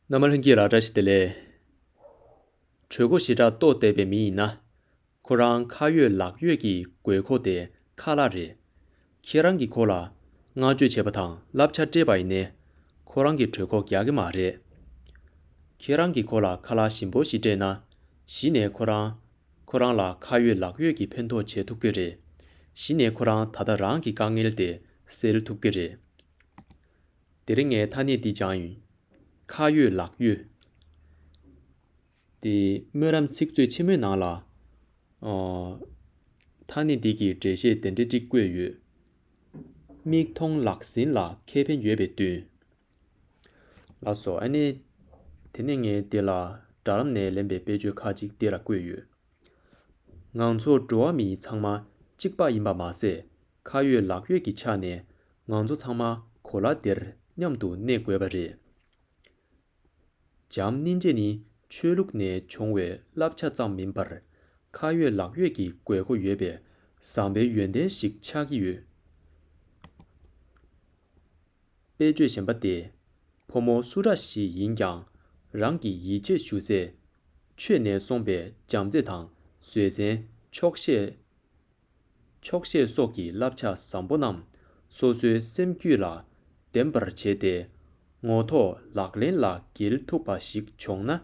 ནམ་མཁའ་ལྷུན་གྱིས་ར་བཀྲ་ཤིས་བདེ་ལེགས། གྲོད་ཁོག་ཞི་དྲག་ལྟོ་བརྟས་པའི་མི་ཡིན་ན། ཁོ་རང་ཁ་ཡོད་ལག་ཡོད་ཀྱི་དགོས་མཁོ་དེ་ཁ་ལག་རེད། ཁྱེད་རང་གིས་ཁོ་ལ་བསྔགས་བརྗོད་བྱས་པ་དང་བསླབ་བྱ་སྤྲད་པ་ཡིན་ནའི། ཁོ་རང་གི་གྲོད་ཁོག་རྒྱག་གི་མ་རེད། ཁྱེད་རང་གིས་ཁོ་ལ་ཁ་ལག་ཞིམ་པོ་ཞིག་སྤྲད་ན། གཞི་ནས་ཁོ་རང། ཁོ་རང་ལ་ཁ་ཡོད་ལག་ཡོད་ཀྱི་ཕན་ཐོགས་བྱེད་ཐུབ་ཀྱི་རེད། གཞི་ནས་ཁོ་རང་ད་ལྟ་རང་གི་དཀའ་ངལ་དེ་སེལ་ཐུབ་ཀྱི་རེད། དེ་རིང་ངའི་ཐ་སྙད་འདི་སྦྱང་ཡིན། ཁ་ཡོད་ལག་ཡོད། དེ་སྨོན་ལམ་ཚིག་མཛོད་ཆེན་མོའི་ནང་ལ། ཐ་སྙད་འདི་གི་འགྲེལ་བཤད་དེ་འདྲ་གཅིག་བཀོད་ཡོད། མིག་མཐོང་ལག་ཟིན་ལ་ཁེ་ཕན་ཡོད་པའི་དུས། ལགས་སོ། ཨ་ནི། དེ་ནས་ངས་འདི་ལ་སྦྲགས་ལམ་ནས་ལེན་པའི་དཔེ་བརྗོད་ཁག་ཅིག་འདི་ལ་བཀོད་ཡོད། ང་ཚོ་འགྲོ་བ་མི་ཚང་མ་གཅིག་པ་ཡིན་པ་མ་ཟད། ཁ་ཡོད་ལག་ཡོད་ཀྱི་ཆ་ནས་ང་ཚོ་ཚང་མ་གོ་ལ་འདིར་མཉམ་དུ་གནས་དགོས་པ་རེད། འཇམ་སྣེ་འབྱེད་ནི་ཆོས་ལུགས་ནས་བྱུང་བའི་བསླབ་བྱ་ཙམ་མིན་པར། ཁ་ཡོད་ལག་ཡོད་ཀྱི་དགོས་མཁོ་ཡོད་པའི་བཟང་པའི་ཡོན་ཏན་ཞིག་ཆགས་ཀྱི་ཡོད། དཔེ་བརྗོད་གཞན་པ་སྟེ། ཕོ་མོ་སུ་ར་ཞིག་ཡིན་ཀྱང་རང་གི་ཡིད་ཆེས་ཞུ་སའི། ཆོས་ནས་སོང་པའི་བྱམས་བརྩེ་དང་བཟོད་བསྲན་ཆོག་ཤེས། ཆོག་ཤེས་སོགས་ཀྱི་བསླབ་བྱ་བཟང་པོ་རྣམས་སོ་སོའི་སེམས་རྒྱུད་ལ་ལྡན་པར་བྱས་ཏེ། ངོ་ཐོག་ལག་ལེན་ལ་འགེལ་ཐུབ་པ་ཞིག་བྱུང་ན།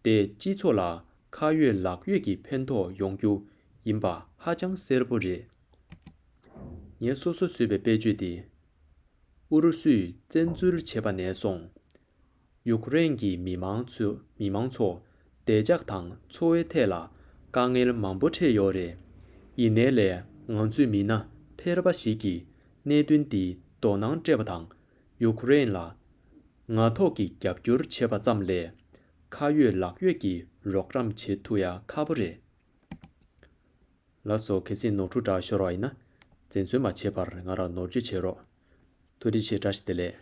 དེས་སྤྱི་ཚོགས་ལ་ཁ་ཡོད་ལག་ཡོད་ཀྱི་ཕན་ཐོགས་ཡོང་རྒྱུ་ཡིན་པ་ཧ་ཅང་གསལ་པོ་རེད། ངས་སོ་སོ་བཟོས་པའི་དཔེ་བརྗོད་འདི། ཨུ་རུ་སུས་བཙན་འཛུལ་བྱས་པ་ནས་བཟུང། ཡུཀ་རེན་གྱི་མི་དམངས་ཚོ་བདེ་འཇགས་དང་འཚོ་བའི་ཐད་ལ་དཀའ་ངལ་མང་པོ་འཕྲད་ཡོད་རེད། ཡིན་ནའི་ལས་ང་ཚོའི་མི་སྣ་ཕལ་པ་ཞིག་གིས་གནད་དོན་འདི་དོ་སྣང་སྤྲད་པ་དང་ཡུཀ་རེན་ལ་ངག་ཐོག་གི་རྒྱབ་སྐྱོར་བྱེད་པ་ཙམ་ལས་ཁ་ཡོད་ལག་ཡོད་ཀྱི་རོགས་རམ་བྱེད་ཐུ་ཡ་ཁ་པོ་རེད། ལགས་སོ་གལ་སྲིད་ནོར་འཁྲུལ་འདྲ་ཤོར་བ་ཡིན་ན་འཛེམ་ཟོན་མ་བྱེད་པར་ང་ལ་ནོར་བཅོས་བྱེད་རོགས། ཐུགས་རྗེ་ཆེ་བཀྲ་ཤིས་བདེ་ལེགས།